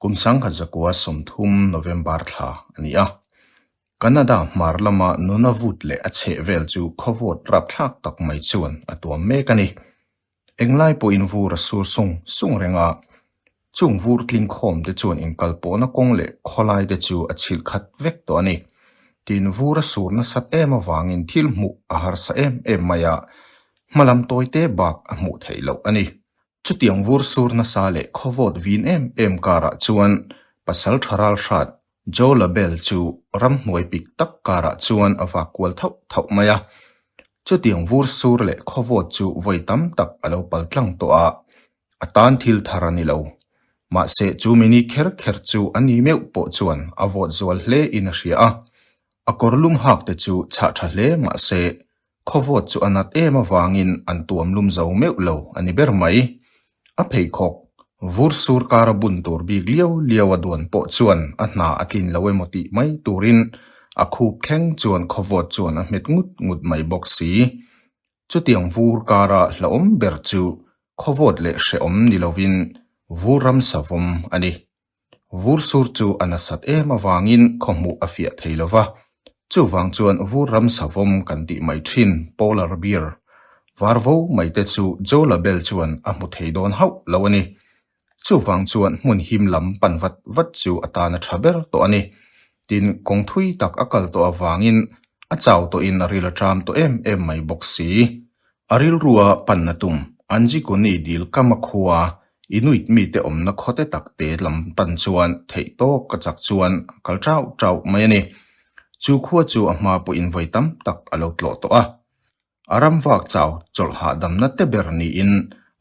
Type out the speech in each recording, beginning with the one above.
Kum sangkhat zakua sawmthum, November, thla a ni a, Canada hmar lama nuna vut leh a chheh vel chu khawvawt rapthlak tak mai chuan a tuam mek a ni. Englai pawh in vur a sur sung sung reng a, chung vur tling khawm te chuan in kalpawhna kawng leh khawlai te chu a chhilh khat vek tawh a ni. Tiin vur a sur nasat em avangin thil hmuh a harsa em em mai a, hmalam tawi te bak a hmuh theih loh a ni. Chutiang vur sur nasa leh khawvawt vin em em karah chuan pasal tha ralhrat Jo Labelle chu ram hnuai pik tak karah chuan a vak kual thauh thauh mai a. Chutiang vur sur leh khawvawt chu vawi tam tak a lo pal tlang tawh a, a tan thil thar a ni lo. Mahse, chu mini kher kher chu a ni meuh pawh chuan a vawt zual hle in a hria a, A kawr lum hakte chu chhah tha hle mahse, khawvawt chu a nat em avangin an tuam lum zo meuh lo a ni ber mai. A pheikhawk vur sur kar a bun tur bik lio lio a duan pawh chuan a hna a tlin lo emaw tih mai turin a khup thleng chuan khawvawt chuan a hmet ngut ngut mai bawk si. Chutiang vur kara hlauhawm ber chu khawvawt leh hrehawm ni lovin vur ram savawm a ni. Vur sur chu a nasat em avangin khaw hmuh a fiah thei lo va. Chuvang chuan vur ram savawm kan tih mai thin, polar bear, var vo mai te chu Joe la Belle chuan a hmu thei dawn hauh lo a ni. Chuvang chuan hmun him lam pan vat vat chu a tan a tha ber tawh a ni. Tin, kawng thui tak a kal tawh avangin a chau tawhin a ril a ṭam tawh em em mai bawk si. A rilrua pan a tum, Anjikuni dil kama khua i nuit mite awmna khawte tak te lam pan chuan theih tawk a chak chuan a kal ṭauh ṭauh mai a ni. Chu khua chu a hma pawhin vawi tam tak a lo tlawh tawh a. A ramvak chau chawlh hahdamna te ber niin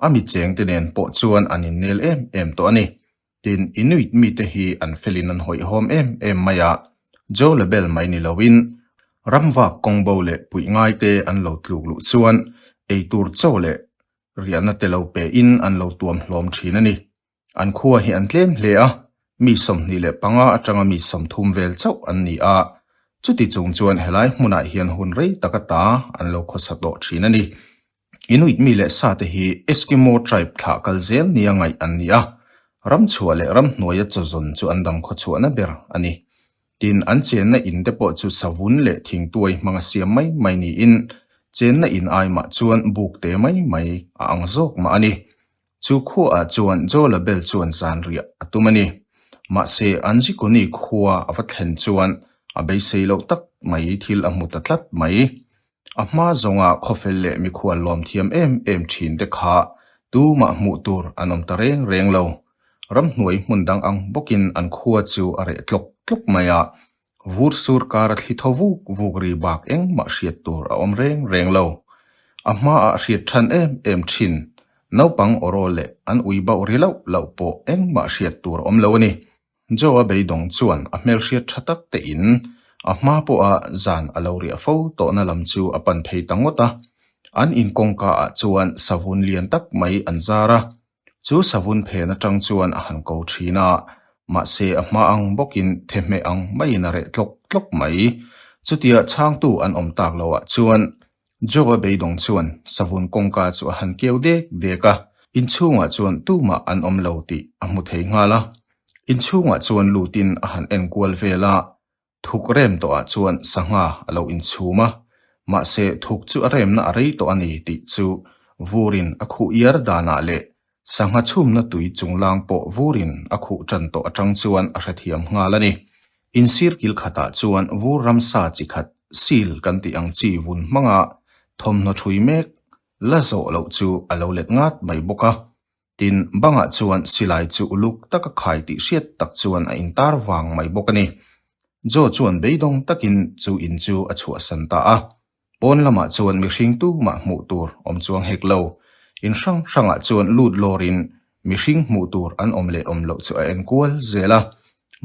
a mi chengte nen pawh chuan an innel em em tawh a ni. Tin, Inuit mite hi an felin an hawihhawm em em mai a, Jo la bel mai ni loin. Ramvak kawngbo leh puih ngaite an lo tluk luh chuan eitur chaw leh riahna te lo pein an lo tuam hlawm thin a ni. An khua hi an tlem hle a, mi sawmhnih leh panga atanga mi sawmthum vel chauh an ni a. Chuti chung chuan helai hmunah hian hun rei taka ta an lo khawsa tawh thin a ni. Inuit mi leh sate hi Eskimo tribe thlah kal zel nia ngaih an ni a, ramchhuah leh ramhnuaia chawzawn chu an dang khawchhuahna ber a ni. Tin, an chenna in te pawh chu savun leh thingtuai hmanga siam mai mai niin chenna in aimah chuan buk te mai mai a ang zawk mah a ni. Chu khuaah chuan Joela bel chuan zanriah a tum a ni. Mahse, Anjikuni khua a va thlen chuan a beisei loh tak mai thil a hmu ta tlat mai. A hma zawnga khawfel leh mikhual lawmthiam em em thin te kha tumah hmuh tur an awm ta reng reng lo. Ramhnuai hmun dang ang bawkin an khua chu a reh tlawk tlawk mai a, Vur sur kara thli tho vuk vuk ri bak engmah hriat tur a awm reng reng lo. A hmaah a hriat than em em thin. Naupang orawl leh an ui bauh ri lauh lauh pawh engmah hriat tur a awm lo a ni. Joe-a beidawng chuan a hmelhriat tha tak te in a hma pawha zan a lo riah fo tawhna lam chu a pan phei ta ngawt a. An in kawngka ah chuan savun lian tak mai an zar a, Chu savun phen atang chuan a han ko thin a, mahse a hma ang bawkin thehmeh ang maiin a reh tlawk tlawk mai. Chutia chhangtu an awm tak loah chuan Joe-a beidawng chuan savun kawngka chu a han keu dek dek a, inchhungah chuan tumah an awm lo tih a hmu thei nghal a. Inchhungah chuan lutin a han enkual vel a, Thuk rem tawhah chuan sangha a lo inchhum a, mahse thuk chu a remna a rei tawh a ni tih chu vurin a khuh iar danah leh sangha chhumna tui chunglang pawh vurin a khuh tan tawh atang chuan a hrethiam nghal a ni. Insir kil khatah chuan vur ramsa chi khat seal kan tih ang chi vun hmanga thawmhnaw thui mek la zawh loh chu a lo let ngat mai bawk a, Tin, bangah chuan silai chu uluk taka khai tih hriat tak chuan a intar vang mai bawk a ni. Joe chuan beidawng takin chu in chu a chhuahsan ta a. Pawn lamah chuan mihring tumah hmuh tur awm chuang hek lo. In hrang hrangah chuan lut lawrin mihring hmuh tur an awm leh awm loh chu a en kual zel a.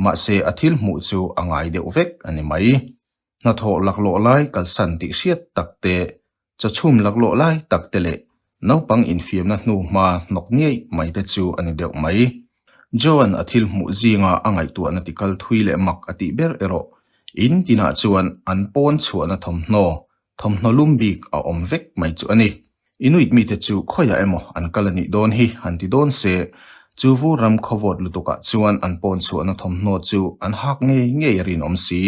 Mahse, a thil hmuh chu a ngai deuh vek a ni mai. Hnathawh laklawh lai kalsan tih hriat tak te Chachhum laklawh lai tak te leh naupang infiamna hnu hma hnawk niaih mai te chu a ni deuh mai. Joan-a thil hmuh zinga a ngaihtuahna ti kal thui leh mak a tih ber erawh in tinah chuan an pawn chhuahna thawmhnaw, thawmhnaw lum bik a awm vek mai chu a ni. I nuih mite chu khawiah emaw an kal a nih dawn hi han ti dawn se, chu vu ram khawvawt lutukah chuan an pawn chhuahna thawmhnaw chu an hak ngei ngei a rinawm si.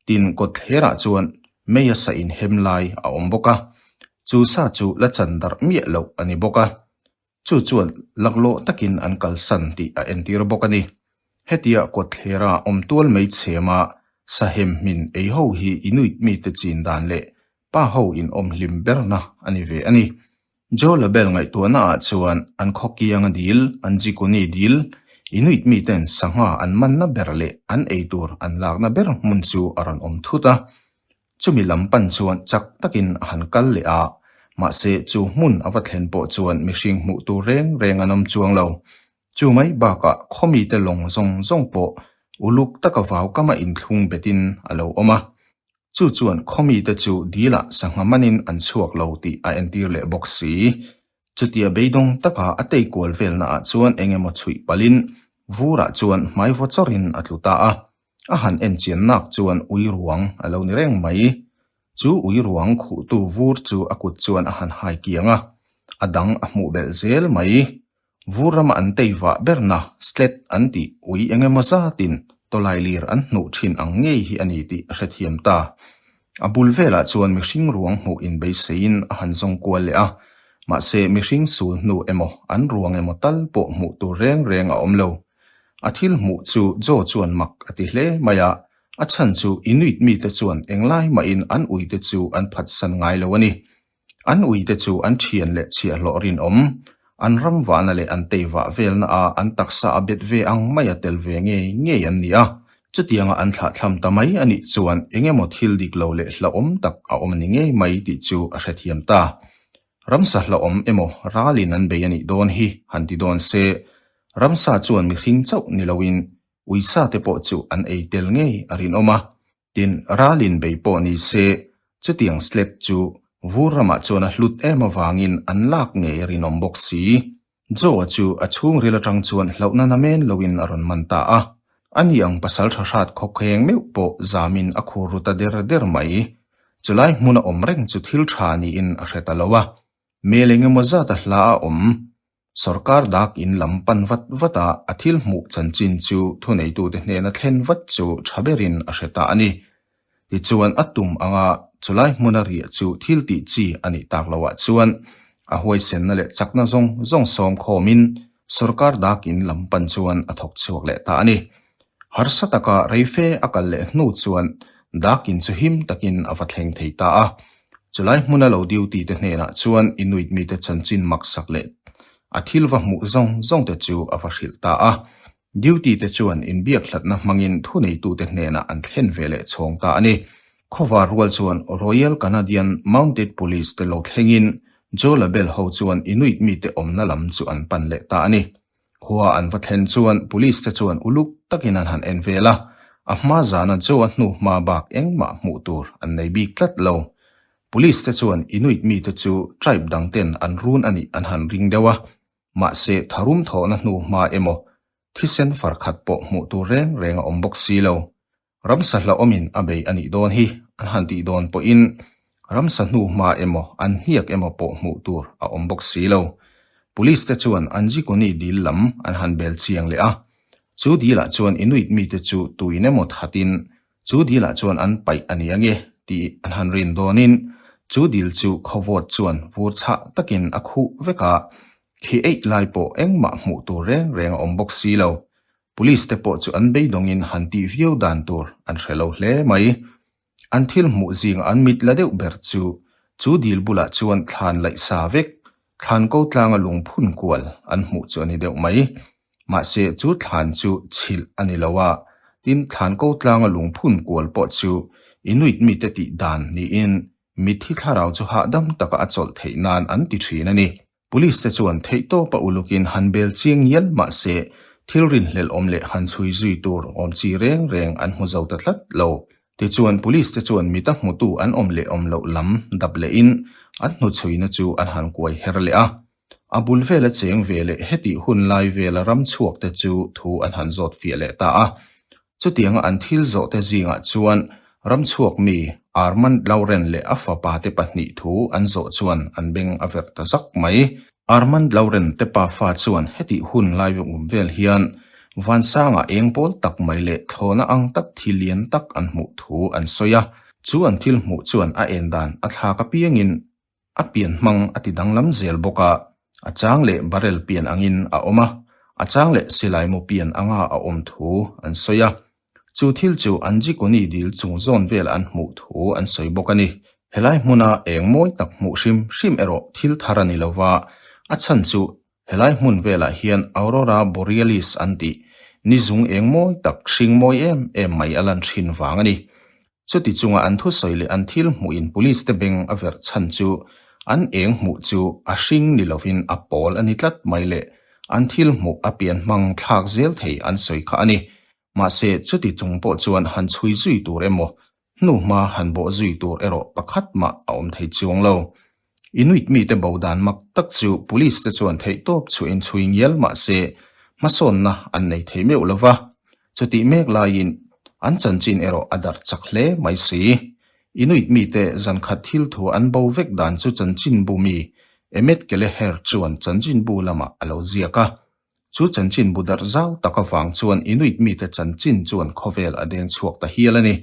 Tin kawtthlerah chuan Maya sa inhem lai a awm bawk a, chu sa chu la chan darh miah loh a ni bawk a, chu chuan laklawh takin an kalsan tih a entir bawk a ni. Hetia kawtthlerah a awm tual mai chhema sahem hmin ei ho hi i nuit mite chin dan leh pa ho inawm hlim berna a ni ve a ni. Joe la bel ngaihtuahna ah chuan an khaw kiang a dil, an jikuni dil, Inuit mi ten sangha an manna ber leh an ei tur an lakna ber hmun chu a rawn awm thut a. Chumi lam pan chuan chak takin a han kal leh a, mahse chu hmun a va thlen pawh chuan mihring hmuh tur reng reng an awm chuang lo. Chu mai bak ah khaw mi te lawng zawng zawng pawh uluk taka vau kama inthlung bet in a lo awm a. Chu chuan khaw mite chu dilah sangha manin an chhuak lo tih a entir leh bawk si. Chutia beidawng taka a tei kual velnaah chuan eng emaw chhuih palhin Vura chuan hmai vawchawrin a tlu ta a. A han en chiannak chuan ui ruang a lo ni reng mai. Chu ui ruang khuhtu Vur chu a kut chuan a han hai kiang a, a dang a hmuh belh zel mai. Vur rama an tei vah berna slet an ti ui eng emaw zatin tawlai lir an hnuh thin ang ngei hi a ni tih a hrethiam ta. A bul velah chuan mihring ruang hmuh in beiseiin a han zawng kual leh a, mahse mihring sul hnu emaw an ruang emaw tal pawh hmuh tur reng reng a awm lo. A thil hmuh chu Joe chuan mak a ti hle mai a, a chhan chu Inuit mite chuan eng lai mahin an uite chu an phatsan ngai lo a ni. An uite chu an thian leh chhiah hlawh rinawm, an ram vahna leh an tei vah velna a an taksa a bet ve ang mai a tel ve ngei ngei an ni a. Chutianga an thlah thlam ta mai a nih chuan eng emaw thil dik lo leh hlauhawm tak a awm a ni ngei mai tih chu a hrethiam ta. Ramsa hlauhawm emaw ralin an bei a nih dawn hi han ti dawn se, ramsa chuan mihring chauh ni loin uisa te pawh chu an ei tel ngei a rinawm a, Tin, ral inbei pawh ni se, chutiang slate chu vur ramah chuan a hlut em avangin an lak ngei rinawm bawk si. Joe-a chu a chhungril atang chuan hlauh nana men loin a rawn man ta a, a ni ang pasal tha hrat khawkheng meuh pawh zamin a khur ru ta der der mai. Chulai hmun a awm reng chu thil tha niin a hre ta lo a, hmel eng emaw zata hla a awm Sorkar dak in lam pan vat vat a a thil hmuh chanchin chu thuneitute hnena thlen vat chu tha berin a hre ta a ni. Tichuan a tum anga chulai hmun a riah chu thil tih chi a nih tak lo ah chuan a huaisenna leh chakna zawng zawng sawmkhawm in sorkar dak in lam pan chuan a thawk chhuak leh ta a ni. Harsa taka rei fe a kal leh hnu chuan dak in chu him takin a va thleng thei ta a. Chulai hmuna lo duty te hnenah chuan Inuit mite chanchin maksak leh a thil va hmuh zawng zawng te chu a va hrilh ta a. Duty te chuan inbiak hlatna hmangin thuneitute hnenah an thlen ve leh chhawng ta a ni. Khawvar rual chuan Royal Canadian Mounted Police te lo thlengin Jaw label ho chuan Inuit mite awmna lam chu an pan leh ta a ni. Khua an va thlen chuan police te chuan uluk takin an han en vel a, a hma zana Joe a hnu hma bak engmah hmuh tur an nei bik tlat lo. Police te chuan Inuit mite chu tribe dang ten an run a nih an han ring deuh a, mahse tharum thawhna hnu hma emaw thisen far khat pawh hmuh tur reng reng a awm bawk si lo. Ram sahla awmin a bei a nih dawn hi an han tih dawn pawhin ram sahnu hma emaw an hniak emaw pawh hmuh tur a awm bawk si lo. Police te chuan an Jikuni dil lam an han bel chiang leh a, chu dil ah chuan Inuit mite chu tuin emaw thatin chu dil ah chuan an paih a nia nge tih an han rin dawnin chu dil chu khawvawt chuan vur chhah takin a khuh vek a, khi eih lai pawh engmah hmuh tur reng reng a awm bawk si lo. Police te pawh chu an beidawngin han tih viau dan tur an hre lo hle mai. An thil hmuh zingah an mit la deuh ber chu chu dil bulah chuan thlan laih sa vek, thlan ko tlanga lungphun kual an hmuh chu a ni deuh mai. Mahse chu thlan chu chhilh a ni lo a, tin thlan ko tlanga lungphun kual pawh chu Inuit mite tih dan niin mit hi thlarau chu hahdam taka a chawlh theih nan an ti thin a ni. Police te chuan theih tawp a uluk in han bel chiang ngial mah se, thil rinhlelh awm leh han chhui zui tur awm chi reng reng an hmu zo ta tlat lo. Tichuan Police te chuan mit a hmu tu an awm leh awm loh lam dap leh in an hnu chhui na chu an han kuai her leh a. A bul vel a cheng ve leh hetih hun lai vel a ram chhuak te chu thu an han zawt fiah leh ta a. Chutianga an thil zawhte zingah chuan ramchhuak mi Armand Lauren leh a fapa te pahnih thu an zawh chuan an beng a verh ta zak mai. Armand Lauren te pa fa chuan hetih hun lai vawm vel hian vansanga eng pawl tak mai leh thlawna ang tak thi lian tak an hmuh thu an sawi a, chu an thil hmuh chuan a en dan a thlak apiangin A pian hmang a ti danglam zel bawk a, a chang leh barrel pian angin a awm a, a chang leh silai mu pian anga a awm thu an sawi a. Chu thil chu an Jikoni dil chung zawn vel an hmuh thu an sawi bawk a ni. Helai hmuna eng mawi tak hmuh hrim hrim erawh thil thar a ni lova, a chhan chu Helai hmun velah hian Aurora Borealis an tih ni zung eng mawi tak, hring mawi em em mai a lan ṭhin vang a ni. Chuti chunga an thusawi leh an thil hmuh in police te beng a verh chhan chu an eng hmuh chu a hring ni lovin a pawl a ni tlat mai leh an thil hmuh a pian hmang thlak zel thei an sawi kha a ni. Mahse, chuti chung pawh chuan han chhui zui tur emaw Hnuhma han bawh zui tur erawh pakhat mah a awm thei chuang lo. Inuit mite bo dan mak tak chu Police te chuan theihtawp chhuahin chhui ngial mah se, hmasawnna an nei thei meuh lo va. Chutih mek laiin an chanchin erawh a dar chak hle mai si. Inuit mite zankhat thil thu an bo vek dan chu chanchinbu mi, Emetkele Herr chuan chanchinbu lamah a lo ziak a. Chu chanchin bu darh zau tak avang chuan i nuih mite chanchin chuan khawvel a deng chhuak ta hial a ni.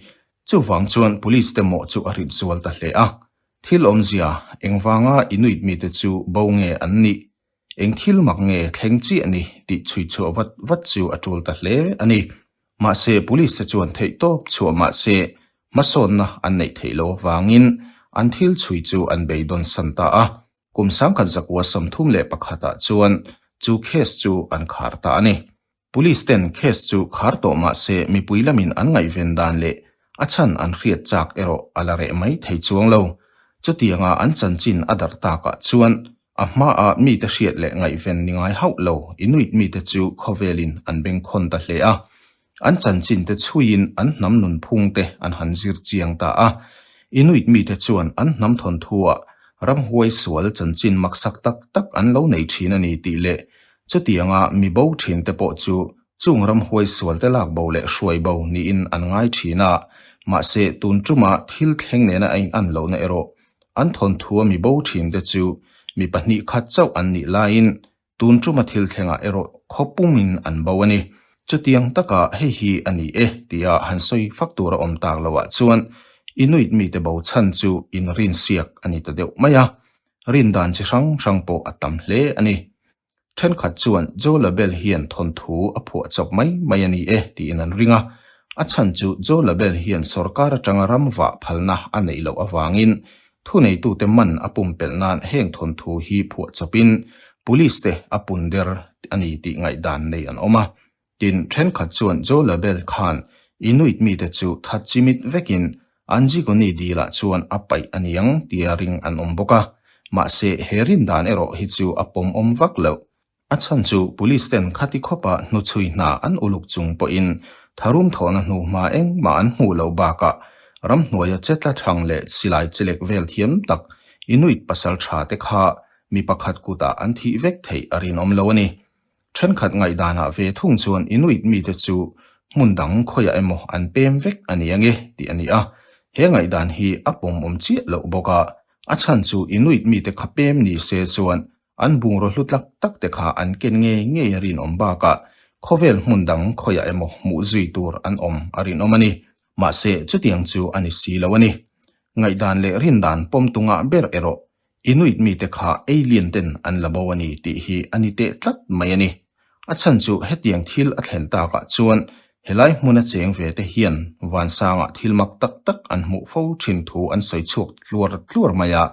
Chuvang chuan police te mawh chu a hrip zual ta hle a, thil awmzia engvanga i nuih mite chu bo nge an ni, eng thil mak nge thleng chiah ni tih chhuihchhuah vat vat chu a tul ta hle a ni. Mahse, police te chuan theihtawp chhuah mah se hmasawnna an neih theih lo avangin an thil chhui chu an bei dawnsan ta a. Kum sangkhat zakua sawmthum leh pakhatah chuan chu case chu an khar ta a ni. Police ten case chu khar tawh mahse mipui lamin an ngaihven dan leh a chhan an hriat chak erawh a la reh mai thei chuang lo. Chutianga an chanchin a darh takah chuan a hmaa mite hriat leh ngaihven ni ngai hauh lo i nuitmite chu khawvelin an beng khawn ta hle a. An chanchinte chhuiin an hnam nunphungte an han zir chiang ta a. Inuit mite chuan an hnam thawnthuah ramhuai sual chanchin maksak tak tak an lo nei thin a ni tih leh chutianga mi bo thinte pawh chu chung ramhuai sualte lak bo leh hruai bo niin an ngai thin a. Mahse, tun tuma thil thleng nena a in'an lohna erawh an thawnthua mi bo thinte chu mi pahnih khat chauh an nih laiin tun tuma thil thlengah erawh khaw pumin an bo a ni. Chutiang taka hei hi a ni e tia han sawi fak tur a awm tak loah chuan i nuit mite bo chhan chu in rinsiak a ni ta deuh mai a, rin dan chi hrang hrang pawh a tam hle a ni. Thenkhat chuan Joe la bel hian thawnthu a phuah chawp mai mai a ni e tiin an ring a, a chhan chu Joe la bel hian sorkar atanga ram vah phalna a neih loh avangin Thuneitute man a pumpelh nan heng thawnthu hi phuah chapin Police te a pun der a ni tih ngaihdan nei an awm a. Tin, thenkhat chuan Joe Labelle khan i nuit mite chu that chimit vekin Anjigoni Dila chuan a paih a niang tia ring an awm bawk a. Mahse, he rindan erawh hi chu a pawmawm vak loh. A chhan chu police ten kha ti khawpa hnu chhui hna an uluk chung pawhin tharum thawhna hnu hma engmah an hmuh loh bakah ramhnuaia che tla thang leh silai che lek vel thiam tak Inuit pasal tha te kha mi pakhat kutah an thih vek theih a rinawm lo a ni. Thenkhat ngaihdanah ve thung chuan Inuit mite chu hmun dang khawiah emaw an pem vek a ni ange tih a ni a, he ngaihdan hi a pawmawm chiah loh bawk a, a chhan chu Inuit mite kha pem ni se chuan An bungraw hlu tlak tak te kha an ken ngei ngei a rinawm bakah khawvel hmun dang khawiah emaw hmuh zui tur an awm a rinawm a ni. Mahse, chutiang chu a ni si lo a ni. Ngaihdan leh rindan pawm tunga ber erawh i nuitmi te kha alien ten an la bo a ni tih hi a ni teh tlat mai a ni. A chhan chu hetiang thil a thlen tak ah chuan helai hmun a cheng ve te hian vansang ah thil mak tak tak an hmuh fo thin thu an sawi chhuak tluar tluar mai a.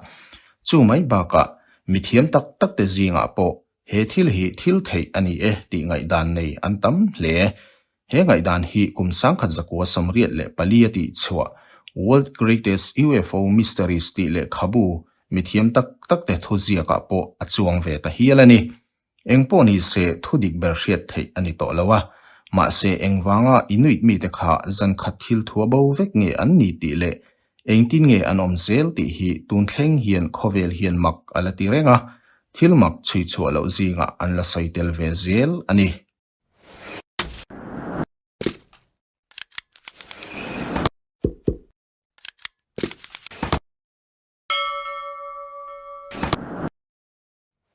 Chu mai bak ah mithiam tak tak te zing ah pawh he thil hi thil theih a ni e tih ngaihdan nei an tam hle. He ngaihdan hi kum sangkhat zakua samriat leh pali a tih chhuah World Greatest UFO Mysteries tih lehkhabu mithiam tak tak te thuziak ah pawh a chuang ve ta hial a ni. Eng pawh ni se thu dik ber hriat theih a ni tawh lo a, mahse engvanga i nuih mite kha zan khat thil thua bo vek nge an ni tih leh engtin nge an awm zel tih hi tun thleng hian khawvel hian mak a la ti reng a, thil mak chhui chhuah loh zingah an la sawi tel ve zel a ni.